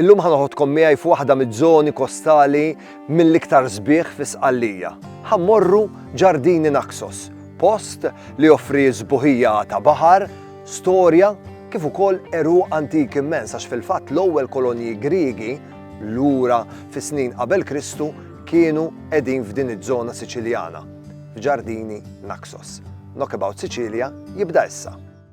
Illum ħa noħodkom miegħi f'waħda miż-żoni kostali mill-iktar sbieħ fi Sqallija. Ħa mmorru Ġardini Naxos, post li joffri sbuħija ta' baħar, storja kif ukoll għeruq antik immens għax fil-fatt l-ewwel kolonji Griegi lura fis-snin qabel Kristu kienu qegħdin f'din iż-żona Siċiljana, f'Ġardini Naxos. Knockabout Sicilia jibda issa.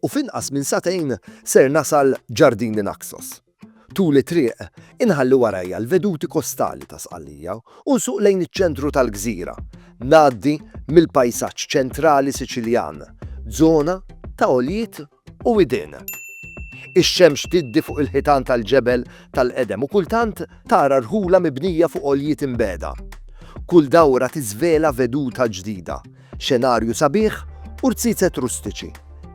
u f'inqas minn sagħtejn ser nasal Ġardini Naxos. Tul it-triq, inħalli warajja l-veduti kostali ta' Sqallija u nsuq lejn iċ-ċentru tal-gżira, ngħaddi mill-pajsaġġ ċentrali Siċiljan, żona ta' għoljiet u widien. Ix-xemx tiddi fuq il-ħitan tal-ġebel tal-qedem u kultant tara rħula mibnija fuq għoljiet imbegħda. Kull dawra tiżvela veduta ġdida, Xenarju sabiħ u rziezet rustiċi,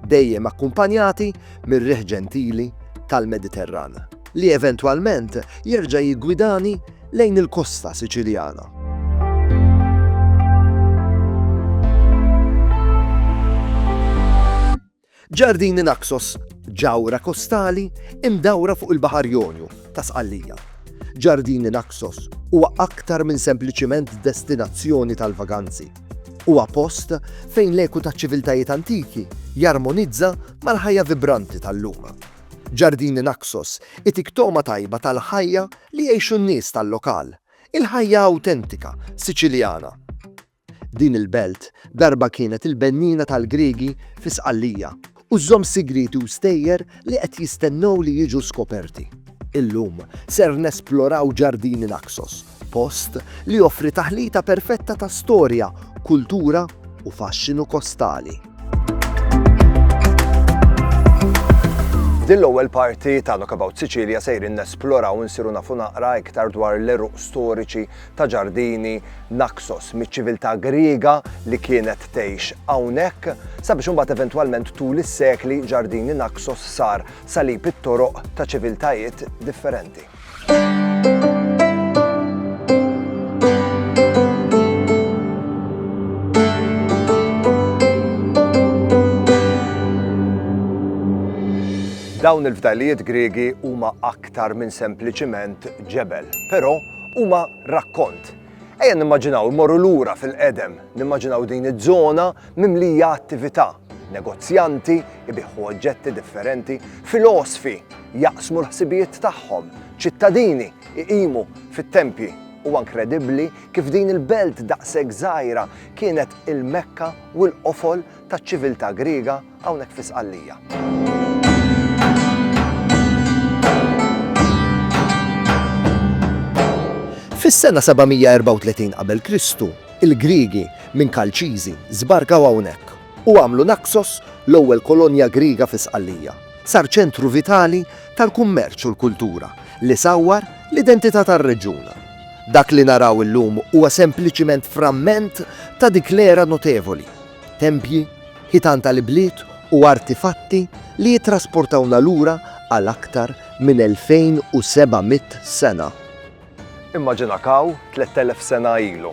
dejjem akkumpanjati mir-riħ ġentili tal-Mediterran, li eventwalment jerġa' jiggwidani lejn il-kosta Siċiljana. Ġardini Naxos, ġawhra kostali mdawra fuq il-Baħar Jonju ta' Sqallija. Ġardini Naxos huwa aktar minn sempliċiment destinazzjoni tal-vaganzi. Huwa post fejn l-eku taċ-ċiviltajiet antiki jarmonizza mal-ħajja vibranti tal-lum. Ġardini Naxos itik togħma tajba tal-ħajja li jgħixu n-nies tal-lokal, il-ħajja awtentika Siċiljana. Din il-belt darba kienet il-benniena tal-Griegi fi Sqallija u żżomm sigrieti u stejjer li qed jistennew li jiġu skoperti. Illum ser nesploraw Ġardini Naxos, post li joffri taħlita perfetta ta' storja, kultura u faxxinu kostali. F'din l-ewwel parti ta' Knockabout Sicilia sejrin nesploraw u nsiru nafu naqra iktar dwar l-għeruq storiċi ta' ġardini Naxos miċ-ċiviltà Griega li kienet tgħix hawnhekk, sabiex imbagħad eventwalment tul is-sekli ġardini Naxos sar salib it-toroq ta' ċiviltajiet differenti. Dawn il-fdalijiet Griegi huma aktar minn sempliċiment ġebel, però, huma rakkont. Ejja nimmaġinaw immorru lura fil-qedem, nimmaġinaw din iż-żona mimlija attività, negozjanti ibiħħu oġġetti differenti, filosfi jaqsmu l-ħsibijiet tagħhom, ċittadini iqimu fit-tempji. U inkredibbli kif din il-belt daqshekk żgħira kienet il-Mekka u l-qofol taċ-ċiviltà Griega hawnhekk fi Sqallija. Fis-sena 734 qabel Kristu, il-Griegi minn Kalċiżi żbarkaw hawnhekk u għamlu Naxos l-ewwel kolonja Griega fi Sqallija. Sar ċentru vitali tal-kummerċ u l-kultura li sawwar l-identità tar-reġjun. Dak li naraw illum huwa sempliċiment framment ta' dik l-era notevoli tempji, ħitan tal-ibliet u artifatti li jittrasportawna lura għal aktar minn 2,700 sena. Immaġina kaw, 3,000 sena ilu.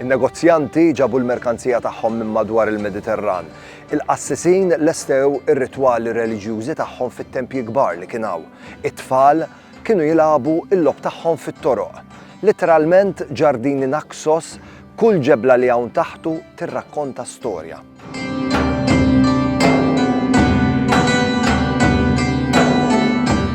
In-negozjanti ġabu l-merkanzija tagħhom minn madwar il-Mediterran. Il-qassisin lestew ir-ritwali reliġjużi tagħhom fit-tempji kbar li kien hawn. It-tfal Kienu jilagħbu l-logħob tagħhom fit-toroq. Litteralment ġardini Naxos, kull ġebla li hawn taħtu tirrakkonta storja.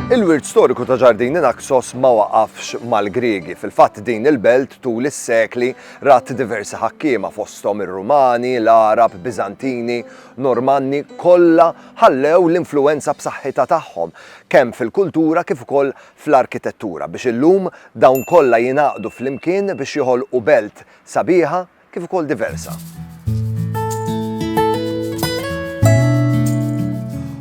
Il-wirt storiku ta' Ġardini Naxos ma waqafx mal-Griegi. Fil-fatt din il-belt tul is-sekli rat diversi ħakkiema fosthom ir-Rumani, l-Għarab, Biżantini, Normanni, kollha ħallew l-influwenza b'saħħitha tagħhom. kemm fil-kultura kif ukoll fl-arkitettura, biex illum dawn kollha jingħaqdu flimkien biex joħolqu belt sabiħa kif ukoll diversa.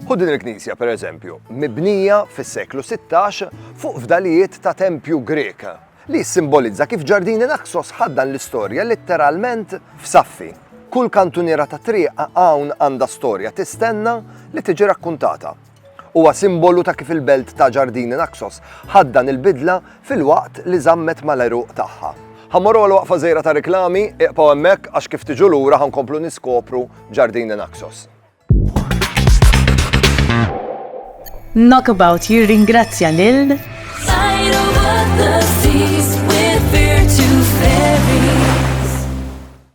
Ħu din il-knisja, per eżempju, mibnija fis-seklu 16 fuq fdalijiet ta' tempju Grek, li jissimbolizza kif ġardini Naxos ħaddan l-istorja litteralment f'saffi. Kull kantuniera ta' triq hawn għandha storja tistenna li tiġi rakkuntata. Huwa simbolu ta' kif il-belt ta' Ġardini Naxos ħadt dan il-bidla filwaqt li żammet mal-għeruq tagħha. Ħa mmorru għal waqfa żgħira ta' riklami, iqbgħu hemmhekk għax kif tiġu lura ħa nkomplu niskopru Ġardini Naxos. Knockabout jirringrazzja lil Tidal Water Seas with Virtu Ferries.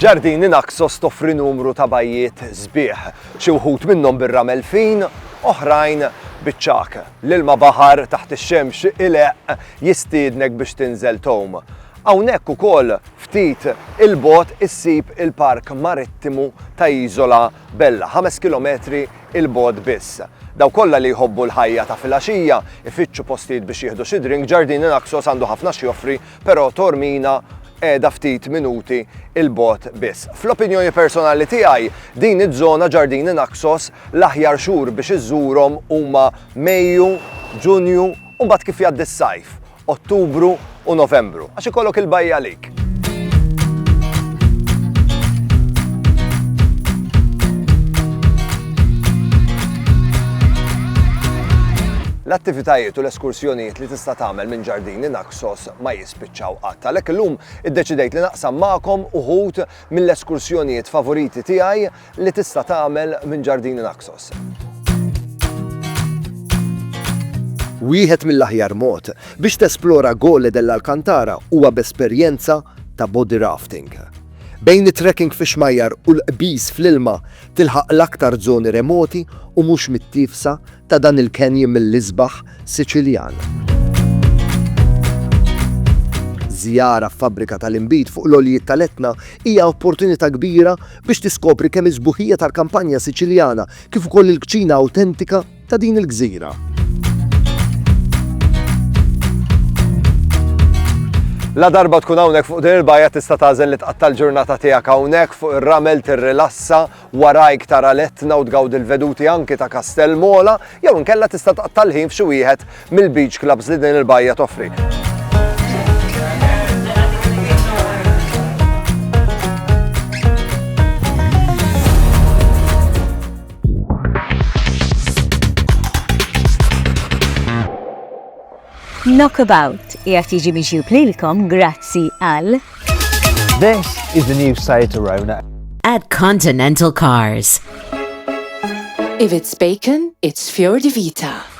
Ġardini Naxos toffri numru ta' bajjiet sbieħ, xi wħud minnhom bir-ramel fin, oħrajn biċ-ċak. L-ilma baħar taħt ix-xemx ileq jistiednek biex tinżel tom. Hawnhekk ukoll ftit il-bot issib il-Park Marittimu ta' Iżola Bella, ħames kilometri 'l bogħod biss. Dawk kollha li jħobbu l-ħajja ta' filgħaxija, ifittxu postijiet biex jieħdu xi drink, Ġardini Naxos għandu ħafna x'joffri, però Taormina qiegħda ftit minuti 'l bogħod biss. Fl-opinjoni personali tiegħi, din iż-żona, Ġardini Naxos, l-aħjar xhur biex iżżurhom huma Mejju, Ġunju u mbagħad kif jgħaddi s-sajf. Ottubru u Novembru, għax ikollok il-bajja għalik. L-attivitajiet u l-eskursjonijiet li tista' tagħmel minn ġardini Naxos ma jispiċċaw qatt. Għalhekk illum iddeċidejt li naqsam magħkom uħud mill-eskursjonijiet favoriti tiegħi li tista' tagħmel minn ġardini Naxos. Wieħed mill-aħjar mod biex tesplora Gole dell'Alcantara huwa b'esperjenza ta' body rafting. Bejn it-trekking fix-xmajjar u l-qbiż fl-ilma tilħaq l-aktar żoni remoti u mhux mittiefsa ta' dan il-canyon mill-isbaħ Siċiljan. Żjara f'fabbrika tal-inbid fuq l-għoljiet tal-Etna hija opportunità kbira biex tiskopri kemm is-sbuħija tal-kampanja Siċiljana kif ukoll il-kċina awtentika ta' din il-gżira. Ladarba tkun hawnhekk fuq din il-bajja tista' tagħżel li tqatta' l-ġurnata tiegħek hawnhekk fuq ir-ramel tirrilassa warajk tara letna u tgawdi l-veduti anki ta' Kastell Mola jew inkella tista' tqatta' l-ħin f'xi wieħed mill-beach clubs li din il-bajja toffri. Knockabout jgħat jiġi miġjub lilkom grazzi għal. This is the new site Arona. At Continental Cars. If it's bacon, it's Fior di Vita.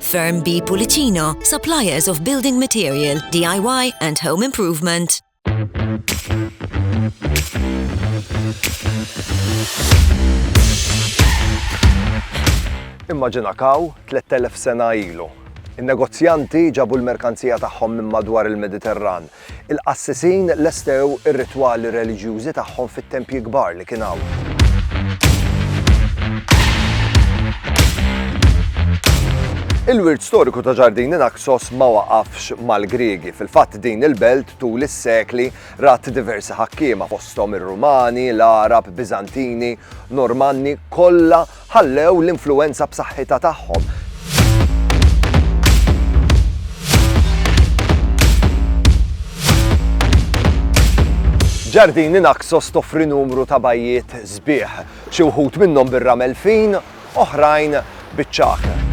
Firm B Pulicino, suppliers of building material, DIY and home improvement. Immaġina kaw 3000 sena ilu. In-negozjanti ġabu l-merkanzija tagħhom minn madwar il-Mediterran Il-qassisin lestew ir-ritwali reliġjużi tagħhom fit-tempji kbar li kien hawn. Il-wirt storiku ta' Ġardini Naxos ma waqafx mal-Griegi. Fil-fatt din il-belt tul is-sekli rat diversi ħakkiema fosthom ir-Rumani, l-Arab, Bizantini, Normanni, kollha ħallew l-influwenza b'saħħitha tagħhom. Ġardini Naxos toffri numru ta' bajjiet sbieħ, xi wħud minnhom bir-ramel fin, oħrajn biċ-ċaħ.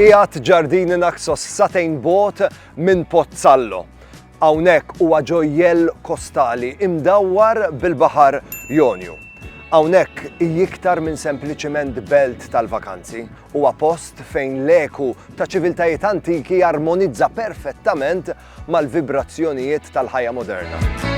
Qiegħed ġardini Naxos satejn bot minn Pozzallo. Hawnhekk huwa ġojjell kostali imdawwar bil-baħar Jonju. Hawnhekk hi iktar minn sempliċiment belt tal-vakanzi, huwa post fejn l-eku ta' ċiviltajiet antiki jarmonizza perfettament mal-vibrazzjonijiet tal-ħajja moderna.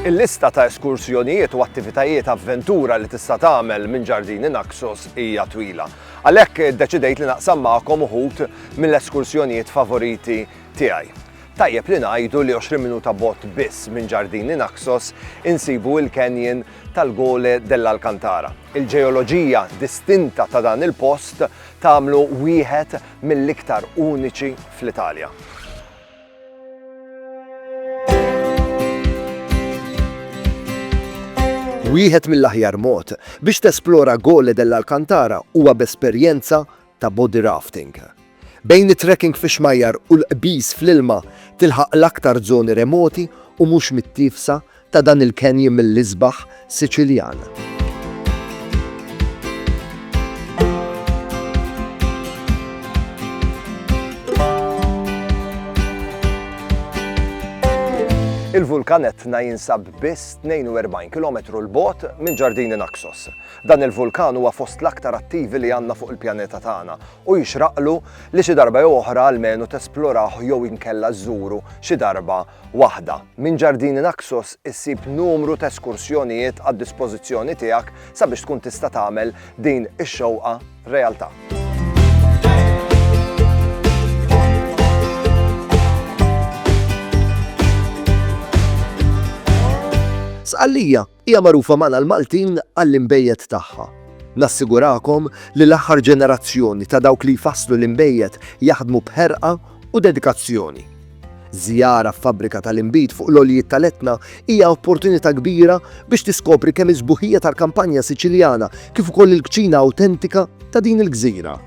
Il-lista ta' eskursjonijiet u attivitajiet avventura li tista' tagħmel minn ġardini Naxos hija twila. Għalhekk iddeċidejt li naqsam magħkom uħud mill-eskursjonijiet favoriti tiegħi. Tajjeb li ngħidu li 20 minuta bot biss minn ġardini Naxos insibu il-canyon tal-Gole dell'Alcantara. Il-ġeoloġija distinta ta' dan il-post tagħmlu wieħed mill-iktar uniċi fl-Italja. Wieħed mill-aħjar mod biex tesplora Gole dell'Alcantara huwa b'esperjenza ta' body rafting. Bejn it-trekking fix-xmajjar u l-qbiż fl-ilma tilħaq l-aktar żoni remoti u mhux mittiefsa ta' dan il-canyon mill-isbaħ Siċiljan. Il-vulkan Etna jinsab biss 42 kilometru 'l bogħod minn Ġardini Naxos. Dan il-vulkan huwa fost l-aktar attivi li għandna fuq il-pjaneta tagħna u jixraqlu li xi darba jew oħra almenu tesplorawh jew inkella żżuru xi darba waħda. Minn Ġardini Naxos issib numru ta' eskursjonijiet għad-dispożizzjoni tiegħek sabiex tkun tista' tagħmel din ix-xewqa realtà. Sqallija, Hija magħrufa magħna l-Maltin għall-inbejjed tagħha. Nassigurakom li l-aħħar ġenerazzjoni ta' dawk li jfasslu l-inbejjed jaħdmu b'ħerqa u dedikazzjoni. Żjara f'fabbrika tal-inbid fuq l-għoljiet tal-Etna hija opportunità kbira biex tiskopri kemm is-sbuħija tal-kampanja Siċiljana kif ukoll il-kċina awtentika ta' din il-gżira.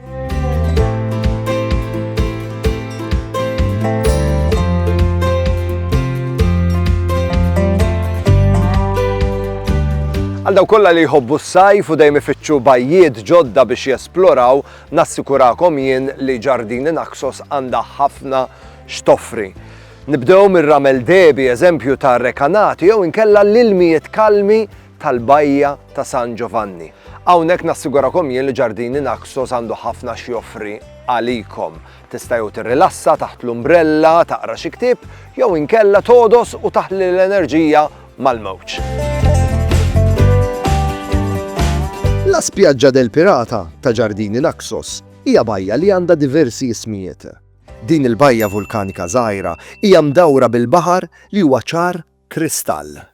Għal daw kollha li jħobbu s-sajf u dejjem ifittxu bajjiet ġodda biex jesploraw, nassikurakom jien li ġardini Naxos għandha ħafna x'toffri. Nibdew mir-ramel debi eżempju ta' rekanati jew inkella l-ilmijiet kalmi tal-Bajja ta' San Ġovanni. Hawnhekk nassigurakom jien li Ġardini Naxos għandu ħafna x'joffri għalikom. Tista' jew tirrilassa taħt l-umbrella, taqra xi ktieb, jew inkella togħdos u taħli l-enerġija mal-mewġ. La Spiaggia del Pirata ta' Ġardini Naxos hija bajja li għandha diversi ismijiet. Din il-bajja vulkanika żgħira hija mdawra bil-baħar li huwa ċar kristall.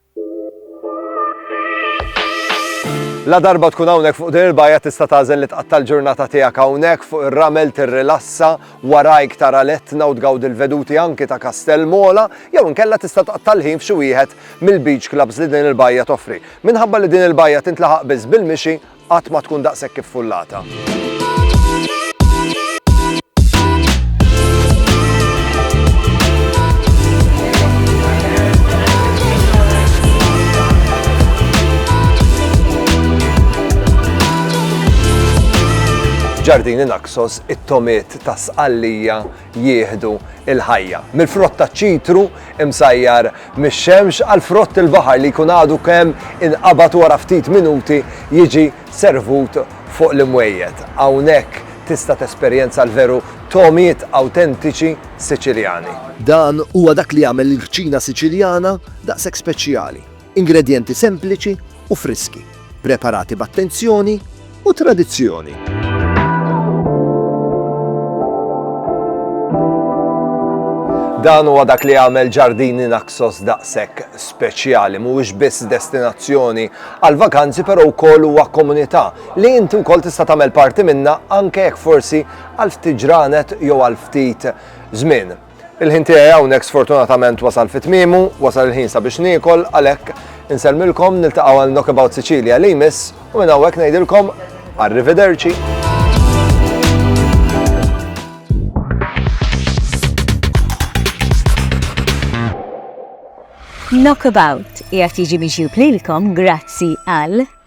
Ladarba tkun hawnhekk fuq din il-bajja tista' tagħżel li tqatta' l-ġurnata tiegħek hawnhekk fuq ir-ramel tirrilassa warajk tara l-Etna u tgawdi l-veduti anki ta' Kastell Mola, jew inkella tista' tqatta' l-ħin f'xi wieħed mill-beach clubs li din il-bajja toffri. Minħabba li din il-bajja tintlaħaq biss bil-mixi, Qatt ma tkun daqshekk iffullata. F'Ġardini Naxos, it-tomiet ta' Sqallija jieħdu l-ħajja. Mill-frott taċ-ċitru imsajjar mix-xemx għal frott il-baħar li jkun għadu kemm inqabad wara ftit minuti jiġi servut fuq l-imwejjed. Hawnhekk tista' tesperjenza l-veru togħmiet awtentiċi Siċiljani. Dan huwa dak li jagħmel il-kċina Siċiljana daqshekk speċjali. Ingredjenti sempliċi u friski, preparati b'attenzjoni u tradizzjoni. Dan huwa dak li għamel ġardini Naxos daqshekk speċjali, mhuwiex biss destinazzjoni għal vakanzi però wkoll huwa komunità li inti wkoll tista' tagħmel parti minna anke jekk forsi għal ftit ġranet jew għal ftit żmien. Il-ħin tiegħi hawnhekk sfortunatament wasal fi tmiemu, wasal il-ħin sabiex niekol, għalhekk insellmilkom niltaqgħu għal Knockabout Sicilia li jmiss u minn hawnhekk ngħidilkom arrivederci. Knockabout jgħat jiġi miġjub lilkom grazzi għal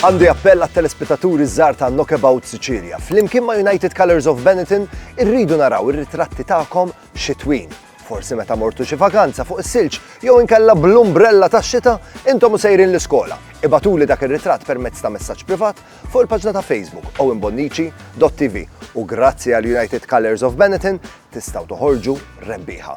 Għandi appell għat telespetaturi żgħar ta' Knockabout Sicilia. Flimkien ma' United Colors of Benetton irridu naraw ir-ritratti tagħkom xitwin. Forsi meta mortu xi vakanza fuq is-silġ jew inkella bl-umbrella tax-xita intom u sejrin l-iskola. Ibatuli dak ir-ritratt permezz ta' messaġġ privat fuq il-paġna ta' Facebook owenbonnici.tv u grazzi għal United Colors of Benetton tistgħu toħorġu rebbieħa.